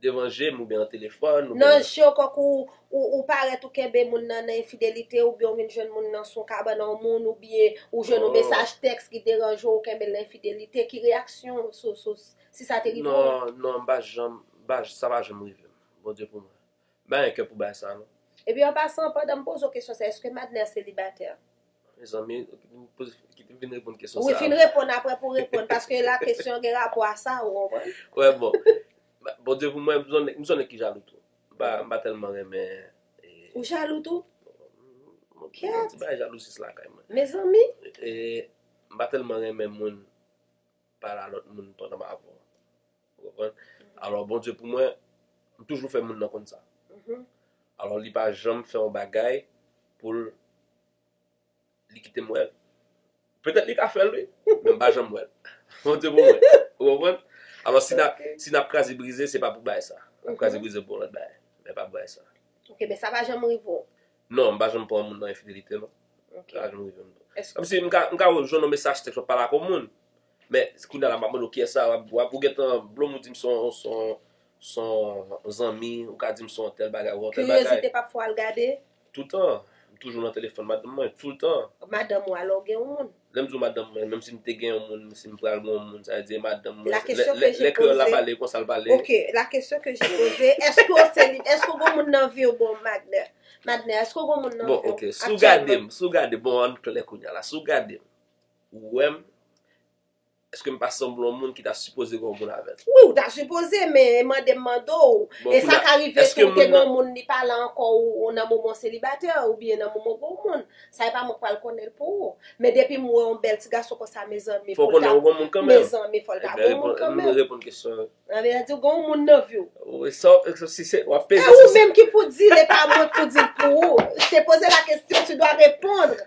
Devan je m oubyen nan telefòn oubyen. Nan je w kòk ou, ou parèt ou kenbe moun nan nan enfidelite oubyen ou vin jwenn moun nan sou kabann on moun oubyen ou jwenn on mesaj tèks ki deranje w ou kenbe l nan enfidelite, ki reyaksyon w sou sou si sa te rive w? Non, non m pa janm, m pa, sa pa janm rive m. Bondye pou mwen. M pa gen kè pou bagay sa non. Epi an pasan, pandan m poze w kesyon sa, èske Madner selibatè? Mezanmi nou poze kite vin reponn kesyon sa. Wi fin reponn aprè pou reponn paske la kesyon gen rapò a sa ou konprann. Wè bon Bondye pou mwen m son nèg ki jalou tou m pa tèlman renmen Ou jalou tou? Bon gen ti bagay jalousie lakay mwen. Mezanmi. E m pa tèlman renmen moun pale a lòt moun pandan m avèw. Ou konprann? Alò Bondye pou mwen, li toujou fè moun nan konn sa. Alò li pa janm fè yon bagay pou l li kite m wè l. Petèt li ka fè l wi, men m pa janm wè l. Bondye pou mwen. Ou konprann? Alò si n ap kraze brize se pa pou bagay sa. N ap kraze brize pou yon lòt bagay, men pa pou bagay sa. Ok, men sa pa janm rive w? Non, m pa janm pran yon moun nan enfidelite non. Sa pa janm rive m non. Kòmsi m ka jwenn yon mesaj tèks w ap pale ak yon moun. Men kounya la map mande w kiyès sa wap wap ou gentan blom ou dim son son son zanmi ou ka dim son tèl bagay ou on tèl bagay. Curiosité pap fè w al gade? Toutan, m toujou nan telefòn madanm mwen, toultan. Madanm ou alò ou gen yon moun? Lè m di w madanm mwen, menm si m te gen yon moun, si m pral gen yon moun, sa vle di e madanm mwen. La question que j'ai posée. Lè kreyòl la pale konsa l pale. Ok, la question que j'ai posée, èske w se li, èske w gen yon moun nan vi w bon Madner? Madner, èske w gen yon moun nan vi w? Bon ok, si w gade m, si w gade m, bon ann klè kounya la, si w gade m. Ou wè m? Eske m pa sanble yon moun ki ta sipoze gen yon moun avè l? Wi, ou ta sipoze, men mande m mande w, e sa ka rive tou ou te gen yon moun li pa la ankò ou nan moman w selibatè oubyen nan moman w gen yon moun. Sa e pa mwen k pral konnen l pou ou. Men depi m wè yon bèl ti gason konsa mezanmi pou l ta Fò w konnen ou gen yon moun kanmenm. Mezanmi fò l ta gen yon moun kanmenm. Ebyen reponn kesyon an. Sa vle di ou gen yon moun nan vi w. Wi, sa w, si se, w ap peze si se. E ou menm ki pou di l e pa mwen k pou di l pou ou. Je t'ai posé la question, tu dois répondre.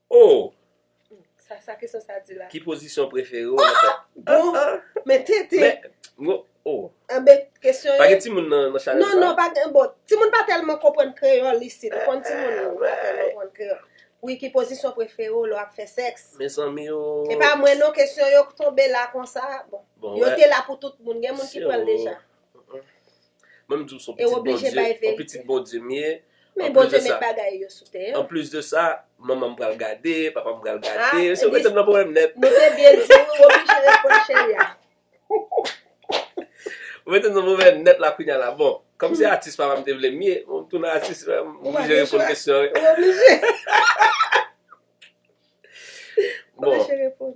Oh! Sa sa kesyon sa di la? Ki pozisyon prefere w nan fè? Bon! Men TT! Men, m o, oh! Anbe, kesyon yo. Pa gen timoun nan chanèl sa? Non, non, pa gen, bon, timoun pa tèlman konprann kreyòl isit, ou konn timoun yo pa tèlman konprann kreyòl. Wi, ki pozisyon prefere w lè w ap fè sèks? Mezanmi o! E pa mwen non kesyon yo k tonbe la konsa, bon. Bon, wè. Yo te la pou tout moun, gen moun ki pran l deja. Mwen m di w son pitit Bondye, on pitit Bondye m ye. Men Bondye met bagay yo sou tè an. An plis de sa, manman m pral gade, papa m pral gade. Se w mete m nan pwoblèm nèt. Nou te byen di w, w oblije reponn cheri a. Ou mete m nan pwoblèm nèt la kounya la. Bon, kòm se atis papa m te vle m ye, m tounen atis, m oblije reponn kesyon an. Ou oblije. Bon. Ou oblije reponn.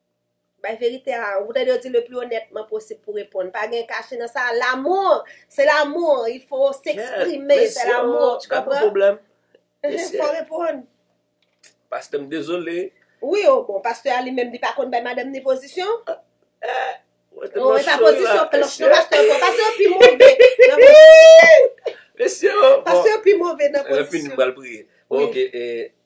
Bay verite a, ou tande yo di le plus honnêtement possible pou reponn. Pa gen kache nan sa, l'amour, se l'amour, il faut s'exprimer, c'est l'amour, tu comprends? Gad yon pwoblèm. Fò reponn. Pastè m dezole. Wi o bon, pastè a li menm li pa konn bay madanm ni pozisyon. Ou e pa pozisyon kloch non pastè bon, pastè yo pi move nan pozisyon. Mesye o bon. Pastè yo pi move nan pozisyon. Lè fini m pral priye. Bon ok,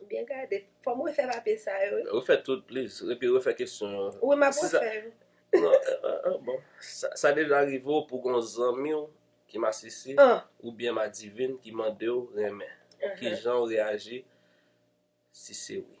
Ou byen gade. Fò m refè papye sa yo wi. Refè tout pliz. Epi refè kesyon yo. Wi m ap refè yo. Non, bon. Sa deja rive w pou gen yon zanmi w ki masisi oubyen madivin ki mande w renmen? Kijan w reyaji si se wi?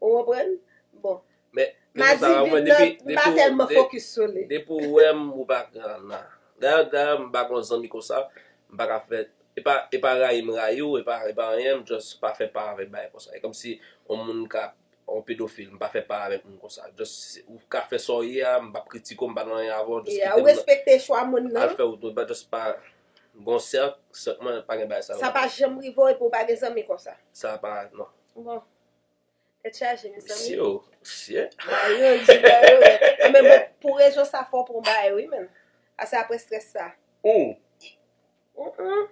Ou konprann? Bon. Men, Mimi Sara, ou wè depi. Madivin nan, m pa tèlman fokis sou li. Depi ou wè m, ou pa ka nan. Dayè, dayè, m pa gon zanmi konsa. M pa ka fè. E pa, e pa rayi m rayi ou, e pa, e pa anyen. M just pa fè pa avèk bagay konsa. E kòmsi on moun ka, on pedofil, m pa fè pa avèk moun konsa. Just, ou ka fè sa w ye a, m pap kritike w, m pa nan anyen avè w, just kite m nan. Ya, ou respekte chwa moun nan. Al fè wout ou, m pa just pa. M gon sèk, sèk mwen pa gen bagay sa yo. Sa pa janm rive w epi ou pa gen zanmi konsa? Sa pa, non. Bon. Tèt chaje mezanmi. Mesye yo fye. Bay yo di bay yo. An men bon pou rezon sa fò pou bay wi menn. Ase apre stress sa. Ooh. Ooh.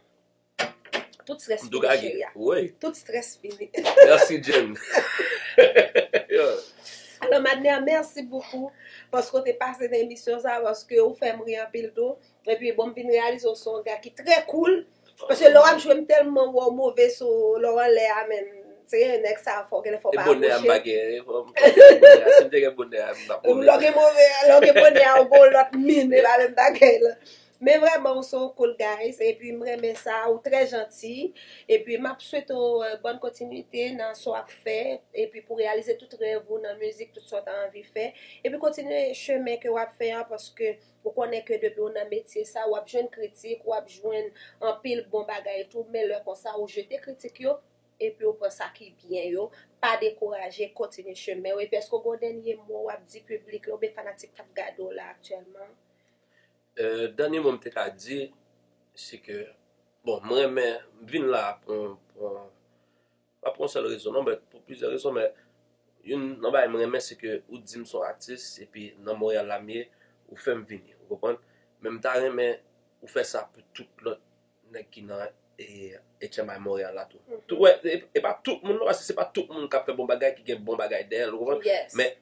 Tout stress fini. Mdouga gen. Woy. Tout stress fini. Merci Jen. Yo. Alò Madner merci beaucoup. Paske w te pase nan emisyon sa. Paske ou fèm ri anpil tou. Epi bon m vin reyalize w se yon ga ki trè koul paske lè wap jwe m tèlman wè w move sou lè w anlè a menn seye nèg sa fò genlè fò w pa apwoche. E bonè a m pa gen fò m fò m konn ya si m te gen bonè a m tap move. Lè w gen move lè w gen bonè a ou gon lòt min e pa menm bagay lan. Men vrèman ou se yon cool guys epi m renmen sa ou trè janti epi map swete w bòn kontinite nan sa w ap fè epi pou reyalize tout rèv ou nan mizik tout sa w ta anvi fè epi kontinye chemen ke wap fè an paske Ou konnen ke depi ou nan metye sa, wap jwenn kritik, wap jwenn anpil bon bagay tou, men lè konsa ou jete kritik yo, epi ou pran sa ki byen yo, pa dekouraje, kontinye chemen ou, epi èske ou gen yon dènye mo wap di piblik la, oubyen fanatik kap gade w la aktyèlman? Dènye mo m te ka di, se ke, bon m renmen, m vin la pou yon, pou yon, Pa pou yon sèl rezon non but pou plizyè rezon men youn nan bagay m renmen se ke ou di m son atis epi nan Montréal la m ye ou fè m vini ou konprann men m ta renmen ou fè sa pou tout lòt nèg ki nan HMI Montréal la tou tou wè e pa tout moun non paske se pa tout moun k ap fè bon bagay ki gen bon bagay dèyè l ou konprann men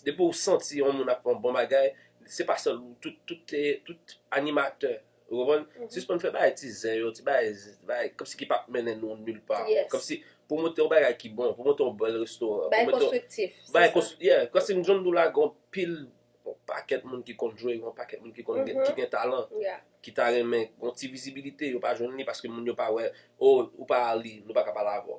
depi w santi yon moun ap fè yon bon bagay se pa sèl ou tout animatè. Ou konprann? Sispann fè bagay ti zen yo, ti bagay bagay kòmsi ki pap mennen nou nil pa. Yes. Kòmsi pou monte yon bagay ki bon, pou monte yon bèl restoran, pou Bagay monte yon konstriktif. se Bagay sa. kons yeah, kòmsi m John Doula gon pil yon pakèt moun ki konn jwe, yon pakèt moun ki konn gen ki gen talan, Yeah. ki ta renmen yon ti vizibilite, yo pa jwenn li paske moun yo pa wè, oh ou pa Arly, nou pa ka pale avè w.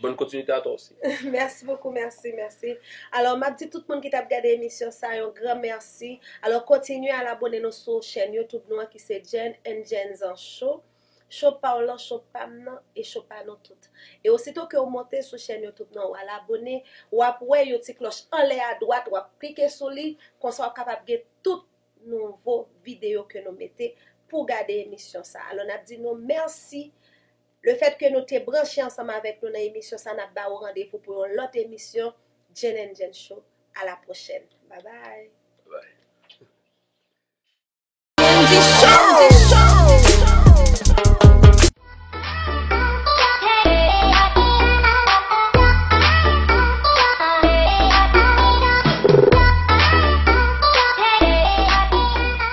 Bonne continuité à toi aussi. Merci beaucoup merci merci alors map di tout moun ki tap gade emisyon sa yon gran merci alors kontinye al abone nou sou chèn YouTube nou an ki se Jèn and Jènzan show show paw lan show pam nan e show pa nou tout e osito ke ou monte sou chèn YouTube nan wal abone wap wè yon ti klòch anlè a dwat wap klike sou li konsa wap kapab gen tout nouvo video ke nou mete pou gade emisyon sa alors nap di nou merci Lefètke nou te branche ansanm avèk nou nan emisyon sa nap ba ou randevou pou yon lòt emisyon Jane and Jane Show a la pwochèn bye bye.